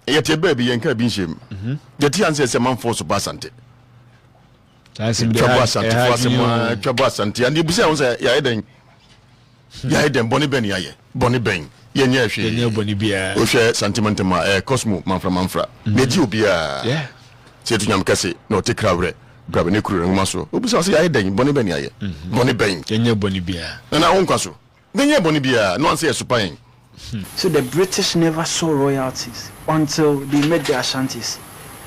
yɛte bɛɛ bi yɛnka bi nhyɛ mu mhm. yɛte ansɛ sɛ manfoɔ so ba asante twabɔ asantefoɔ asɛm a twabɔ asante ane ɛbisa ho sɛ yɛayɛ dɛn hmm. yɛayɛ dɛn bɔne bɛn yɛayɛ bɔne bɛn yɛnyɛ hwee wohwɛ santemantam a ɛyɛ cosmo manfra manfra hmm. na ɛgye obiaa sɛ ɛto nyam kɛse na ɔte kra werɛ brabɛ ne kuro ne nwoma so wobisa sɛ yɛayɛ dɛn bɔne bɛn yɛayɛ hmm. bɔne bɛn nana wonkwa so Yɛnyɛɛ bɔne biara na wansɛ yɛn so pan. So the British never saw royalties until they met the Ashantis?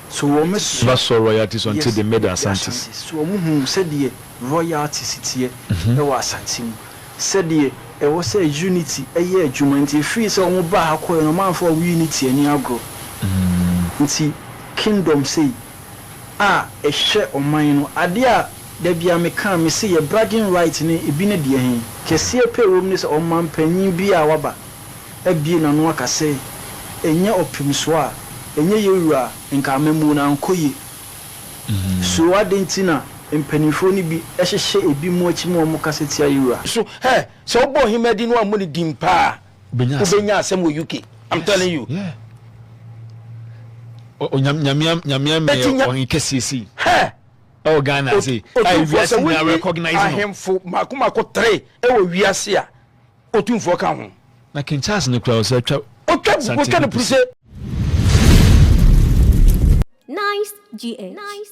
So wɔn so. Never saw royalties until they met the Ashantis? Yes, so wɔn huu sɛdeɛ royalties teɛ wɔ Asante mu, sɛdeɛ ɛwɔ sɛ unity yɛ adwuma, nti ɛfiri sɛ wɔn baa ha kɔeɛ no wɔn amfa wɔn unity anni agorɔ, nti kingdom sei. a ɛhwɛ ɔman no adeɛ a da biara me ka a me se yɛ bragging right ne ebi ne deɛ he kɛseɛ pɛ wɔ mu ne sɛ ɔmanpanyin biara a waba abie n'ano aka se ɛnyɛ ɔpemsoɔ a ɛnyɛ yɛ wura a nka amammuo no ankɔ yie. So adɛn nti na mpaninfoɔ no bi hyehyɛ ebi mu akyi ma wɔn kasa tia yɛ wura? So hɛ, sɛ wobɔ ohemadi no ammu no din paa a, wobɛnya asɛm wɔ uk i'm telling you yeah. nyamea nyamea mmeɛ ɔhen kɛseɛsi ɛwɔ ghana ase otumfoɔ sɛ wonni ahemfo mako mako tere ɛwɔ wiase a otumfoɔ ka ho na king charles no kura ɔsɛ atwa ɔtwa kukuo twa no puru sɛ nice gh nice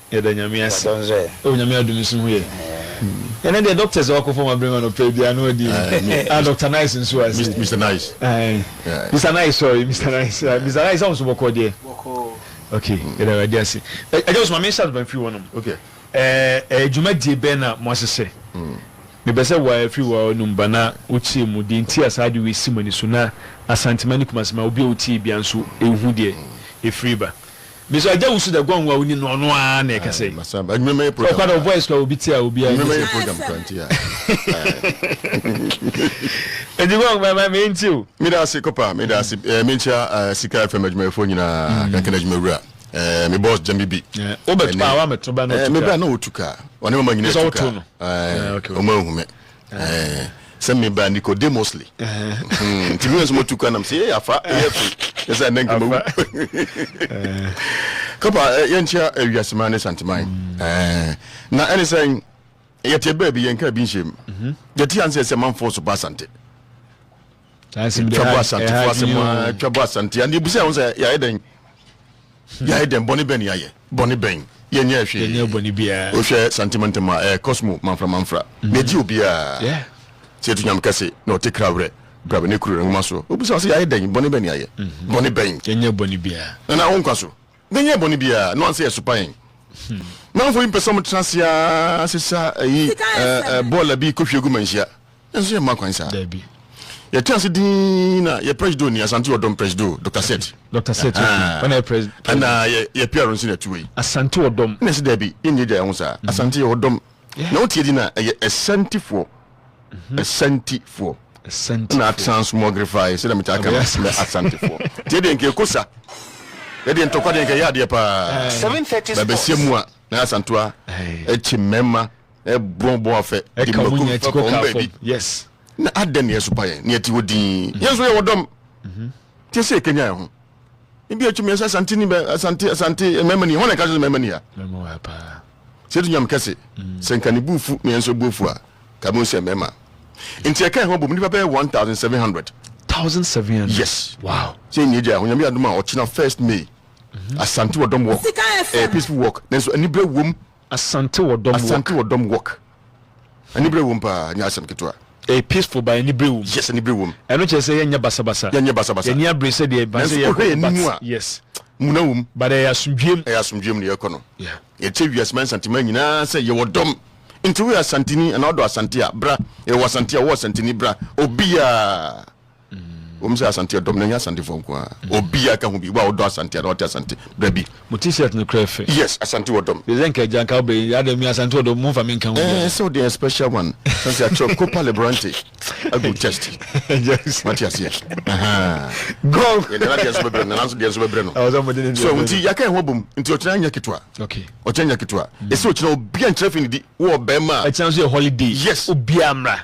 Yɛda Nyame ase oh Nyame adom nso ho yɛ Ɛnɛ deɛ doctors a wakɔ fam abrɛ ma no pɛ biaa no adi ah Doctor Nice nso ase Mister Mister Nice Mister Nice sorry Mister Nice Mister Nice awo nso bɔkɔɔ deɛ ok yɛda awurade ase Agya Osuma menhyɛ ase ba mfiri hɔ nom ɛɛ dwumadie bɛn na mo ahyehyɛ mepɛ sɛ wa firi wa nom ba na wo kyerɛ mu deɛ nti a saa ade wei si mo ani so na Asantema ne Kumasi ma obi a otie biaa nso ɛhu deɛ ɛfiri ba. Mesua agya wusu dɛ gɔngɔn a onni no ɔno ara na ɛkɛse. Sɛ ɔkɔ a na wo voice koraa obi te a obiara nyi sɛ. Enti gɔngɔn ma ma me nti o. Meda ase kɔpa meda ase eh, menkyia eh, sika fm adwumayɛfoɔ nyinaa mm. kankan adwuma wura eh, me boss gyami bi eh, wobɛto a woamɛto ba na ɔtu eh, me bra na ɔtu ka ɔne mama nyina tu ka ɔma ahu me Eh, sɛ meba Nicodemusly. Nti me nso motu kwa nam sɛ yɛ afa yɛ firi ne sɛ ɛnɛ nkama wu. Kɔpa yɛnkyea awiaseman ne santeman. Mm. Na ɛne sɛ yɛte baabi yɛnka bi nhyɛm. Mhm. Yɛte ansɛ sɛ manfoɔ so ba asante. twa bɔ asantefo asɛm a twa bɔ asante a yɛbisa yɛn ho sɛ yɛayɛ dɛn hmm. yɛayɛ dɛn bɔne bɛn yɛayɛ bɔne bɛn yɛnyɛ hwee wohwɛ santimantam a ɛyɛ cosmo manfra manfra hmm. na ɛgye obiaa sɛ ɛto nyame kɛse na ɔte kra werɛ brabɛ ne kuro nwoma so wobisa wo sɛ yɛayɛ dɛn bɔne bɛn yɛayɛ hmm. bɔne bɛn nana wo nkwa so na nyɛ bɔne biara na wansa yɛ sopa yɛn. Hmm. Manfo yi mpɛ sɛ wɔtena ase ara sesa ayi bɔɔla bi kɔhwie gu manhyia. Nanso yɛmma kwan saa. Dabi. Yɛtena ase din na yɛ presido ni Asante Ɔdɔm presido Dr. Set. Dr. Set okay. Ɔna yɛ president. Ɛna yɛ yɛ PR nso na ɛtu wei. Asante Ɔdɔm. Na ɛsɛ dabi yɛnyɛ gya yɛn ho saa. Hmm. Asante yɛ Ɔdɔm. Na wotie di na ɛyɛ ɛsantifoɔ. Asantifoɔ. Asantifoɔ. Na transmogrified sɛ dɛm kyɛ aka no mɛ Asantifoɔ. Tie deɛ nka ekosa. Yɛ deɛ ntɔkwa deɛ nka yɛ adeɛ paa. Seven thirty sports. Bɛbɛsi mu a na Asantua ɛkyi mɛma ɛbɔn bɔn afɛ. Ɛka wɔn nyɛ ti kɔ kaa fam. Yes. Na adɛ na yɛsopa yɛn na yɛte hɔ din. Mhm. Yɛn nso yɛ wɔ dɔm. Mhm. Tie sɛ ekenya yɛn ho. Ebi atwi mmiɛnsa Asante ni bɛ Asante Asante mɛma ni hɔn na ɛka sɛ mɛma ni ha. Mɛma wɔ ha paa. Sɛ edu nyam kɛse, sɛ nka ne bo refu na yɛn nso bo afu a, nka yɛbɛhu sɛ yɛn mmarima. Enti yɛkae ho abom, nnipa bɛyɛ 1,700. 1,700? Yes. Wow. Sɛ nea agya Onyame adom a, ɔkyena first May, mhm. Asante Wɔdɔm Walk. Ɛyɛ peaceful walk, nanso anibere wom. Asante Wɔdɔm Walk. Asante Wɔdɔm Walk. Anibere wom paa, nyɛ asɛm ketewa. Ɛyɛ peaceful but anibere wom. Yes, anibere wom. Ɛno kyerɛ sɛ yɛnyɛ basabasa. Yɛnyɛ basabasa. Yɛnni abere sɛdeɛ ɛba sɛ yɛkɔ. Nanso wohwɛ yɛn anim a. Yes. Muna wom. But ɛyɛ asomdwoeɛ mu. Ɛyɛ asomdwoeɛ mu na yɛkɔ no. Yeah. Yɛkyɛ wiase man Asanteman nyinaa sɛ yɛwɔ dɔm. Nti woyɛ Asanteni anaa wodɔ Asante a, bra. Yɛwɔ Asante a, wowɔ Asanteni, bra. Obiara. wɔn sɛ asante ɛdɔm na ɛnyɛ asantefoɔ nko ara mm. obiara ka ho bi wa ɔdɔ asante ana ɔte asante bra bi. mo ti shirt no kura fɛ. yes asante ɔdɔm. de sɛ nka gya nka ɔbɛ yi ada mi asante ɔdɔm mo nfa mi nka ho bi. ɛɛ sɛ ɔde special one sanse akyerɛ kopa lebrante agu chest mate aseɛ. gɔl. yɛ nana deɛ nso bɛbrɛ nana nso deɛ nso bɛbrɛ no. ɛwɔ sɛ mo de ne deɛ so nti yaka ɛho bom nti ɔkyerɛ anya ketewa. okay ɔkyerɛ anya ketewa. ɛsɛ mm. ɔkyerɛ obi ankyerɛ fi ne di wɔ ɔbɛn ma. ɛkyerɛ nso yɛ holiday. yes obi amra.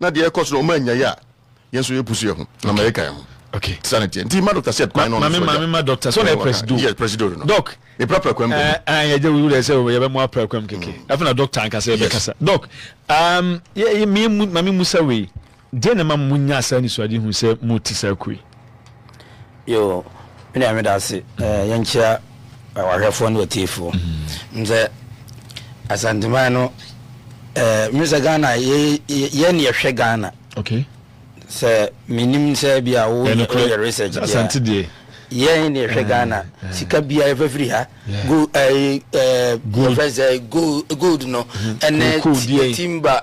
na deɛ ɛkɔ so no ɔma ɛnyae a yɛn nso yɛ pusu yɛ ho na ma yɛ ka yɛ ho okay tisa ne teɛ nti ma doctor sɛ kwan no ɔno so ma me ma doctor so na press do yes press do no doc me pra pra kwam eh ah yɛ gye wuri sɛ yɛ bɛ mo pra kwam keke mm. afei na doctor anka sɛ yɛ bɛ kasa doc um yɛ me ma me musa wei deɛ na ma mo nya saa nisuade hu sɛ mo ti saa kue Yo, me nua meda ase. Eh, yɛnkyia wahwɛfoɔ ne watiefoɔ. Mm. Nsɛ Asanteman no, eh, me sɛ Ghana, yɛ ne yɛhwɛ Ghana. Okay. Sɛ menim sɛ bi a woyɛ research deɛ. Asante deɛ. Yɛn ne yɛhwɛ eh, Ghana. Eh. Sika bi a yɛfɛ firi ha. Go, eh, eh, gold. Yɛfɛ sɛ gold, gold no. Mm-hmm. Ɛnɛ timba.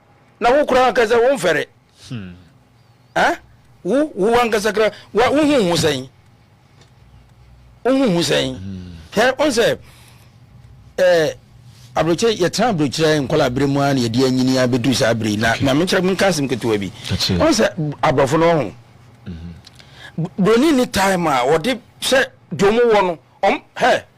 Na wo koraa ankasa wo mfɛre. Eh? Wo, wo ankasa koraa, wa, wo ho ho sɛn? Wo ho ho sɛn? Hɛ, on sɛ, eh, aburokyɛ, yɛtena aburokyerɛ nkɔla abere mu a na yɛde anyini abɛduru saa abere na na menkyerɛ menka asɛm ketewa bi. On sɛ, aborɔfo no ho. Buroni ni time a wɔde sɛ deɛ wɔn wɔ no, wɔn, hɛ,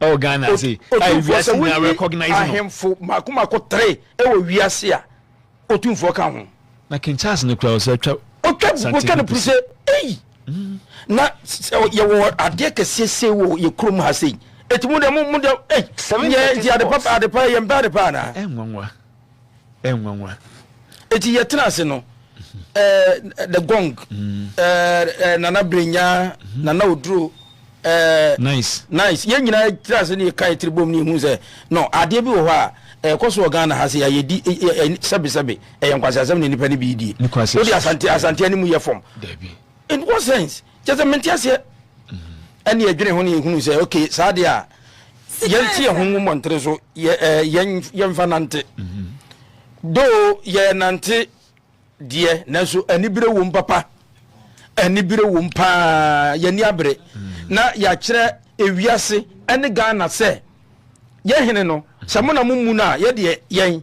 ɛwɔ Ghana ase a Otumfoɔ sɛ wiase nyinaa wonni recognize no. ahemfo mmaako mmaako tre wɔ wiase a Otumfoɔ ka ho. Na King Charles no koraa ɔsɛ twa Ɔtwa gu kotwa no puru sɛ ei! Na s- s- ɔ- yɛwɔ adeɛ kɛseɛ sei wɔ yɛ kurom ha sei. Enti mo deɛ mo mo deɛ ei! Seven Yɛ thirty nti ade pa sports. ade pa yɛmpɛ ade pa anaa? Ɛnwanwa. Nwanwa. Eti yɛ tena ase no ɛɛ eh, the gong ɛɛ mm. eh, eh, nana brenya mhm. nana oduro ɛɛ nice nice yɛn nyinaa tena ase ne yɛ kan tiri bom ne ehu sɛ no adeɛ bi wɔ hɔ a ɛkɔ so wɔ ghana ha sɛ yɛayɛ di sɛbesɛbe ɛyɛ nkwasi asɛm na nipa ne bi die wode asante asante ne mu yɛ fam in what sense kyɛ sɛ mente aseɛ ɛne yɛdwene ho ne yɛhunu sɛ ok saa deɛ a yɛnte yɛ ho ngu mmɔntere so yɛmfa nante do yɛnante deɛ nanso anibere wom papa anibere wom paa yɛni abere na yɛakyerɛ ewiase ɛne ghana sɛ yɛhene no sɛ mo na mo mu no a yɛdeɛ yɛn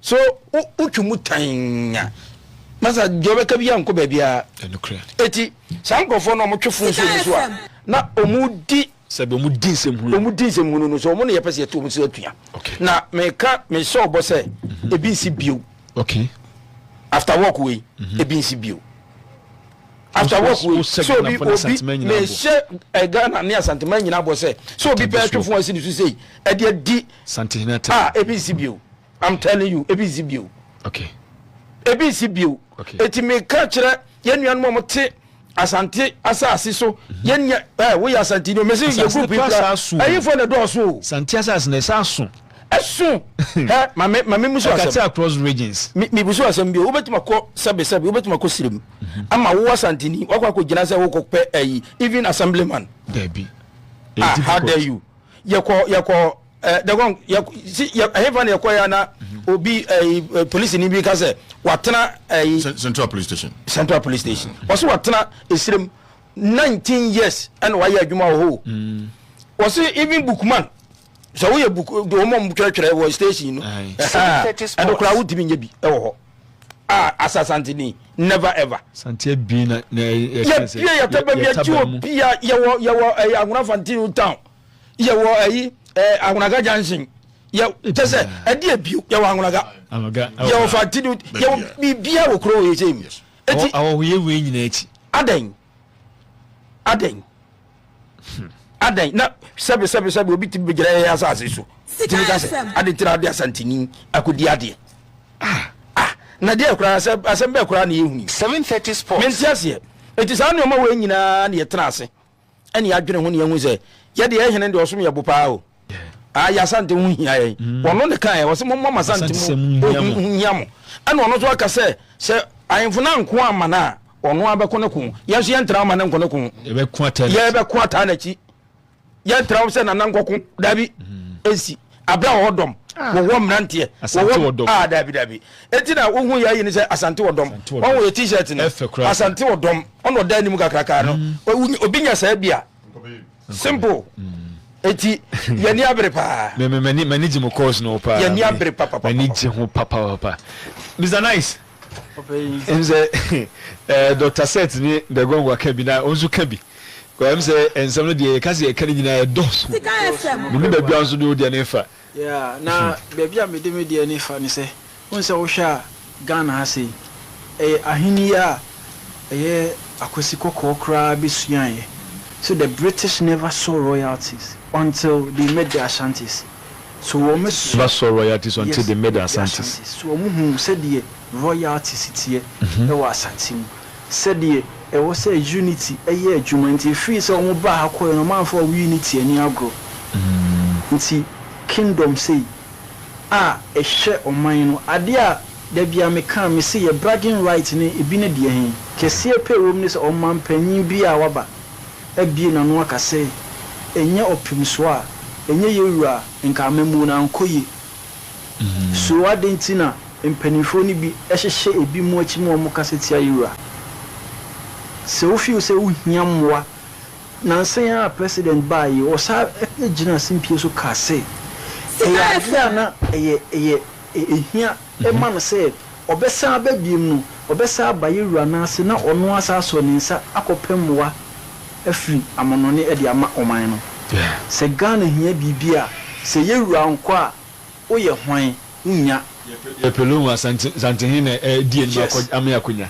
So wotwe mu tann a, masa deɛ ɔbɛka biara nkɔ baabiara. Eti saa nkurɔfoɔ no a wɔtwe fon so mu so a na wɔdi sɛbi wɔn di nsɛm hunu wɔn di nsɛm hunu no so wɔn na yɛpɛ sɛ yɛto wɔn so atua na meka mehyɛ ɔbɔ sɛ mhm. ebi nsi bio okay after work wei mhm. ebi nsi bio after work wei so obi obi mehyɛ eh, Ghana ne Asantuma nyinaa bɔ sɛ so obi pɛ atwe fon asi ne so sei ɛde adi. Santehene te. Ah ebi nsi bio I'm telling you ebi nsi bio. Okay. Ebi nsi bio. Okay. Eti mi ka kyerɛ yɛn nuanom a wɔn te Asante asaase so mhm. yɛn nya ɛɛ eh, woyɛ Asante ni o mesi yɛ group yi kura ɛyinfo na dɔɔso o. Sante asaase na ɛsɛ aso. Ɛso ɛ maame maame musu asɛm. Ɛkati across regions. Mi mi busu asɛm bi o wobɛtumi akɔ sɛbi sɛbi wobɛtumi akɔ sirim mhm. ama wo Asante ni wakɔ akɔ gyina sɛ wokɔ pɛ ɛyi even assemblyman. Dɛbi. Ah how dare you. yɛkɔ yɛkɔ ɛɛ dɛgɔn yɛ si yɛ ɛhefa na yɛkɔ yɛ na mhm. obi ɛɛ polisi ni bi ka sɛ watena ɛɛ. central police station. central police station mhm. wɔsi watena esirem nineteen years ɛna wayɛ adwuma wɔ hɔ mhm. wɔsi even bookman sɛ woyɛ book wɔn a wɔtwerɛtwerɛ wɔ station no ɛdokora wotumi nyɛ bi ɛwɔ hɔ. Ah asa sante ni never ever. Sante abien na na yɛ yɛ sɛ yɛ yɛ taba yɛ taba mu. Pia yɛ wɔ yɛ wɔ ɛyɛ ahona fantino town yɛ wɔ ɛyi ɛɛ ahonaga junction yɛ kyɛ sɛ ɛdi ebio yɛ wɔ ahonaga yɛ wɔ fantino yɛ wɔ bibia wɔ kuro yɛ sɛ mu. Eti awɔhoyɛ wei nyinaa akyi. Adɛn adɛn. Hmm. Adɛn na sɛbe sɛbe sɛbe obi tumi bɛgyina yɛn asase so tumi ka sɛ ade nti na ade asanteni akɔdi adeɛ ah, ah, na deɛ koraa sɛ asɛm bɛɛ koraa na yɛhuni 730 sports mente aseɛ ɛti saa nneɔma wei nyinaa na yɛtena ase ɛne yɛadwene ho ne yɛhu sɛ yɛde yɛhene deɛ ɔsom yɛ bo paa o ayi asante ho hia yɛn mm. ɔno ne kan yɛ ɔsɛ mo mɔ masante mu ohun hia mo ɛna ɔno nso aka sɛ sɛ ahemfo na nko ama no a ɔno abɛko ne ko yɛn nso yɛntena ama ne nko ne ko yɛbɛko ataa n'akyi yɛntena sɛ nana nkɔko dabi mm. nsi abira wɔ hɔ dɔm ah. wɔwɔ mmeranteɛ wɔwɔ dɔm aa ah, dabi dabi eti na wohu yɛ ayi ne sɛ asante wɔ dɔm wɔn wɔ yɛ t-shirt no asante wɔ dɔm ɔna ɔda anim kakraka no mm. obi nya saa bi a. Simple. Eti yɛni abere paa. Me me mani mani gye mo course no paa. Yɛni abere papa papa. Mani gye ho papa papa. Mr Nice. Ɛm sɛ eh, Dr Set ne Bɛgɔngo aka bi na ɔnso ka bi. Ɛm sɛ nsɛm no deɛ yɛka sɛ yɛka no nyinaa ɛdɔɔso. Mene baabi a nso de wodeɛ no ɛfa. Yeah, na baabi a mede me deɛ ani fa ne sɛ, wohu sɛ wohwɛ a Ghana ha sei, ɛyɛ ahennie a ɛyɛ Akwasi Kɔkɔɔ koraa bɛsuaeɛ. So the British never saw royalties until they met the Ashantis. So wɔn su, Never saw royalties until yes, they met the met the Asantes. Asantes. So wɔhuu sɛdeɛ royalties teɛ wɔ Asante mu. sɛdeɛ ɛwɔ sɛ Unity yɛ adwuma nti ɛfiri sɛ wɔn baa ha kɔeɛ no wɔn amfa wɔn Unity ani agorɔ nti Kingdom sei a ɛhyɛ ɔman no adeɛ a dabiara me ka me se yɛ bragging right ne ebi ne deɛ he kɛseɛ pɛ ɛwɔ mu ne sɛ ɔmanpanyin biara a waba abue n'ano aka sɛ ɛnyɛ ɔpemsoɔ a ɛnyɛ yɛwura a nka amammuo no ankɔ yie So adɛn nti na mpanimfoɔ no bi hyehyɛ ebinom akyi ma wɔkasa tia Yewura? Sɛ wo feel sɛ wohia mmoa, nansa yi ara a President baa yi, ɔsan gyinaa asempie so kaa sɛ ɛyɛ adeɛ a na ɛyɛ ɛyɛ ɛhia ma no sɛ ɔbɛsan aba biom no, ɔbɛsan aba Yewura no ase na ɔno ara asan asɔ ne nsa akɔpɛ mmoa afiri amonɔne de ama ɔman no. Sɛ Ghana hia biribi a, sɛ yɛwura nkɔ a, wo yɛ hwan? Wo nnya. Yɛ pɛ loan a, Santehe na ɛdi anim akɔ amee akonya.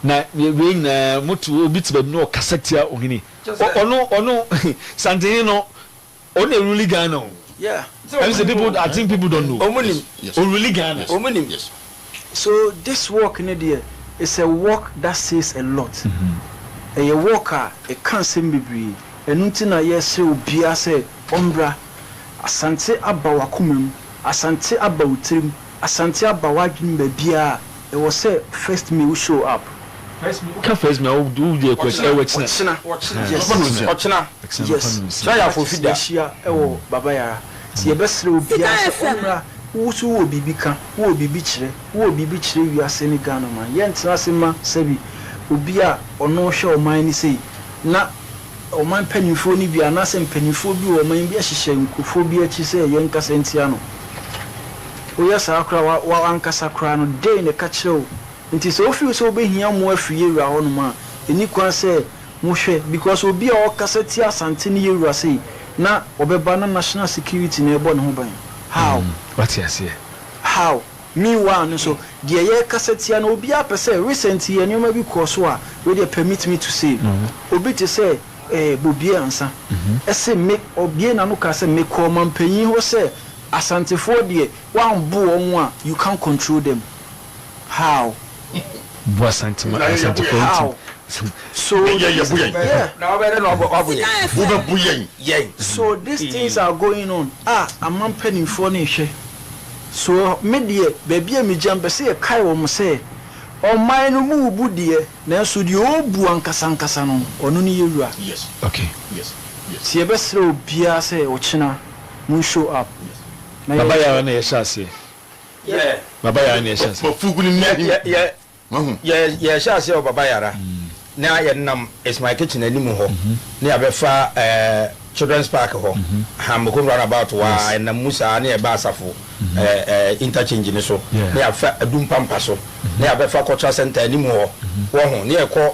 Na wei nyinaa, mo to obi te baabi na ɔkasa tia ohene. Ɔno, ɔno, Santehe no, Ɔno na ɔruli Ghana o. Yeah. Ɛm sɛ people I think people don't know. Ɔmo nim. Ɔruli Ghana. Ɔmo nim. So this work no deɛ it's a work that says a lot. Ɛyɛ work a ɛka nsɛm bebree. Ɛno nti na yɛsrɛ obiara sɛ ɔmmra. Asante aba w'akoma mu. Asante aba wo tirim. Asante aba w'adwenem baabiara a. Ɛwɔ sɛ first me wo show up. Ka first me a wo wo deɛ kɔ akyi ɛwɔ kyina. Ɔkyena. Ɔkyena. Yes. Ɔkyena. Ɔkyena. Ɔkyena. Ɔkyena anɔpa Yes. mmiɛnsa. Kyena yɛ Ɔkyena afoofi da. yɛhyia ɛwɔ Baba Yara. Nti yɛbɛsrɛ obiara Sika sɛ FM. ɔmmra. Wo nso wowɔ biribi ka, wowɔ biribi kyerɛ, wowɔ biribi kyerɛ wiase ne Ghanaman. Yɛntena ase mma sɛbi obi a ɔno hwɛ ɔman no sei na ɔman mpaninfoɔ no bi anaasɛ mpaninfoɔ bi wɔ ɔman bi hyehyɛ nkurɔfoɔ bi akyi sɛ yɛnkasa ntia no. Woyɛ saa koraa a, w'ankasa koraa no, dɛn na ɛka kyerɛ wo? Enti sɛ wofi sɛ wobɛhia mmoa afiri yɛn wura hɔnom a, ɛnni kwan sɛ mohwɛ, because obi a ɔkasa tia Asante ne yɛn wura sei, na ɔbɛba na national security na ɛrebɔ ne ho ban. How? Wate aseɛ? How? Meanwhile no nso, deɛ yɛrekasa tia no, obiara pɛ sɛ, recent yi nneɛma bi kɔɔ so a, wei deɛ permit me to say, obi te sɛ eh, Bobie Ansah, ɛse me, ɔbue n'ano kaa sɛ, mekɔɔ ɔmampanyin hɔ sɛ Asantefoɔ deɛ woanbo wɔn a you can't control them how? Bo Asante ma Asantefoɔ ntim so these so these things are going on a ama mpaninfoɔ no rehwɛ so me deɛ baabi a megya mpɛ sɛ yɛkae wɔn sɛ ɔman no mu rebu deɛ nanso deɛ ɔrebu ankasa ankasa no ɔno ne yɛwura nti yɛbɛsrɛ obiara sɛ ɔkyena Mo show up na yɛ. Baba yɛ ara na yɛhyɛ aseɛ. Baba yɛ ara na yɛhyɛ aseɛ. Mafugu no nni ahi wahu. Yɛhyɛ aseɛ wɔ Baba yɛ ara na yɛnam It's My Kitchen anim hɔ na yɛabɛfa Children's Park hɔ, Hammokrom roundabout hɔ a yɛnam mu saa na yɛba Asafo interchange no so na yɛafa Adum Pampa so na yɛabɛfa Cultural Centre anim hɔ wahu na yɛkɔ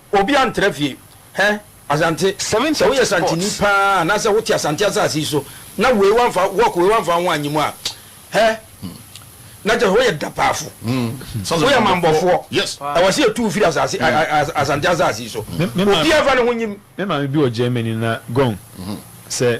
Obi antra fie hɛ Asante. Sɛ woyɛ Asanteni paa anaasɛ wote Asante asase yi so na wei wamfa walk wei wamfa wo ho annye mu a hɛ na kyerɛ sɛ woyɛ dapaafo. Woyɛ amanbɔfoɔ. Ɛwɔ sɛ yɛtu wo firi asase Asante asase yi so. Obiara mfa ne ho nnyem. Me maame bi wɔ Germany na gong sɛ.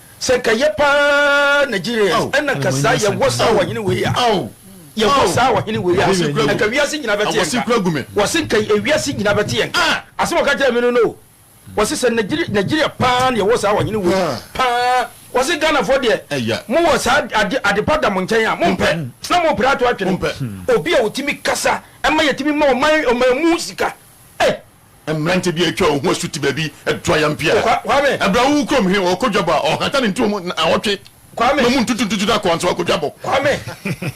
Sɛ nka yɛ paa Nigerians ɛna nka saa yɛ wɔ saa ɔhene wei a yɛ wɔ saa ɔhene wei a nka wiase nyina bɛte yɛ nka wɔse nka ewiase nyina bɛte yɛ nka asɛm ɔka kyerɛ me no no wɔse sɛ Nigeria Nigeria paa na yɛ wɔ saa ɔhene wei paa wɔse Ghanafoɔ deɛ mo wɔ saa ade adepa da mo nkyɛn a mo mpɛ na mo pere ato atwene obi a ɔtumi kasa ɛma yɛtumi ma ɔman ɔman mu sika eh Mmerante bi a atwa wɔn ho asu te baabi to ayam pia. Bere a wowu kurom he, wɔkɔ dwabɔ a, wɔhata ne ntuo mu nnaawɔtwe ma mu ntutuntutu na kɔɔn so akɔ dwabɔ. Kwame,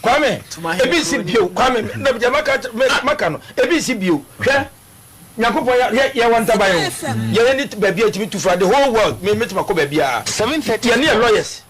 Kwame, ebi si bio, Kwame, na deɛ maka maka no, ebi si bio. Hwɛ, Nyankopɔn ya hwɛ yɛ wɔ ntaban o, yɛ yɛ ni baabi a etumi tu fa the whole world, me me tuma kɔ baabi a, yɛ ne yɛ lawyers.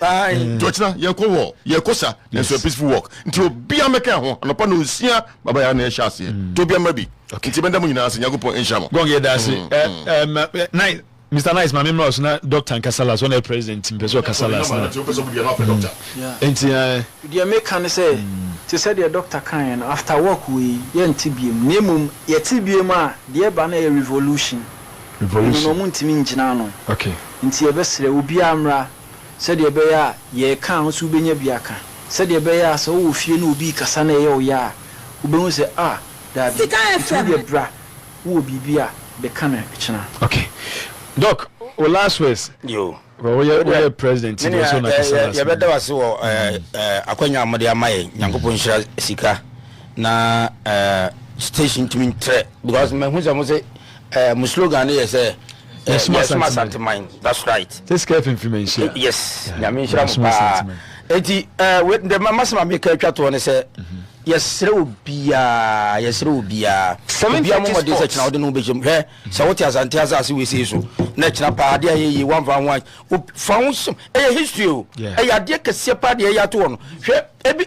Eh. nti ɔkyena yɛkɔ wɔ yɛkɔ sa nanso yɛ peaceful walk nti mm. obia mɛka ho anɔpa na ɔnsia babaya na ɛhyɛ aseɛ mm. nti obia mma bi nti mɛda mo nyinaa ase nyankopɔn nhyira mo gɔg yɛda ase mm, eh, eh, mr nice maame mmerɛ ɔso na doctor nkasa last ɔna president mpɛ sɛ ɔkasa last na nti deɛ meka ne sɛ te sɛ deɛ doctor kaeɛ no after work wei yɛnte biam na mmom yɛte biam a deɛ ɛba no yɛ revolution revolution na ɔmo ntumi ngyina ano nti yɛbɛsrɛ obiara mmra sɛdeɛ ɛbɛyɛ a yɛ ɛka a wo nso wobɛnya bi aka, sɛdeɛ ɛbɛyɛ a sɛ wowɔ fie na obi rekasa na ɛyɛ wo ya a, wobɛhu sɛ ah, daabi, ɛtumi deɛ bra, wowɔ biribi a bɛka no kyena. Ok Doc wo last words. Yo. Because wo yɛ wo yɛ president nti wo so na kasa last. Yɛ bɛ da wase wɔ ɛɛ ɛɛ akwanya a mo de ama yɛ nyankopɔn nhyira sika na ɛɛ station tumi ntrɛ because mɛ hu sɛ mo se ɛɛ mo slogan ne yɛ sɛ. yɛsoma asanteman that's right this care fimfim nhyia eh, yes eh, nyame nhyira mu paa enti the masem a meka atwa toɔ ne sɛ yɛserɛ wɔ biaa yɛserɛ wɔ biaa obia momɔden sɛ kyena wode no wobɛhyɛm hwɛ sɛ wote asante asase wesei so na kyena paa adeɛ a yɛyie woamfa ho fa ho hyɛm ɛyɛ history o ɛyɛ adeɛ kɛseɛ paa deɛ ɛyɛ ato hɔ no hwɛ ebi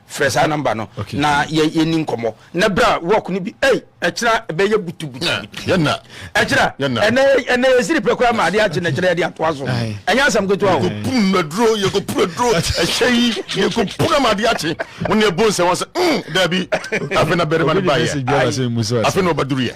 Frɛ saa number no na yɛ yɛ ni nkɔmɔ na bra work no bi ɛy ɛkyina ɛbɛ yɛ butu butu butu yɛna ɛkyina ɛnɛ ɛnɛ yɛ siri pɛ koraa ma adi agye na kyerɛ yɛ de ato aso ɛnyɛ asɛm ketewa o. yɛkɔ pun na duro yɛkɔ pun na duro ɛhyɛ yi yɛkɔ pun na ma adi agye wɔn yɛ bon sɛ wɔn sɛ mm dɛbi afei na bɛrɛ ma ne ba yɛ ayi afei na ɔba duru yɛ.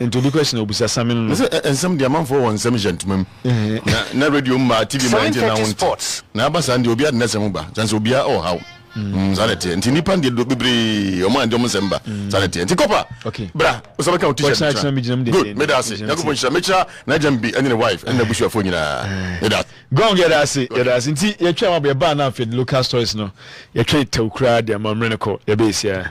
Nti obi question na obisa samino no. Mese ɛ nsɛm deɛ amanfoɔ wɔ nsɛm hyɛ ntoma mu na na radio mmaa TV mmaa nti na wonte na aba saa deɛ obiara de n'asɛm ho ba kyɛnse obiara ɔwɔ haw mm saa na ɛteɛ nti nipa deɛ do bebree ɔmo ande ɔmo nsɛm ba saa na ɛteɛ nti kɔpa okay bra osa bɛka o t-shirt no kyerɛ me good meda ase nyankopɔn nhyira mekyira n'agya mbi ɛne ne wife ɛne n'abusuafoɔ nyinaa meda ase gong yɛda ase yɛda ase nti yɛtwɛn wabɔ yɛbaa na afei local stories no yɛtwɛn tɛw koraa deɛ ma mmerɛ no kɔ yɛbɛyɛ siaa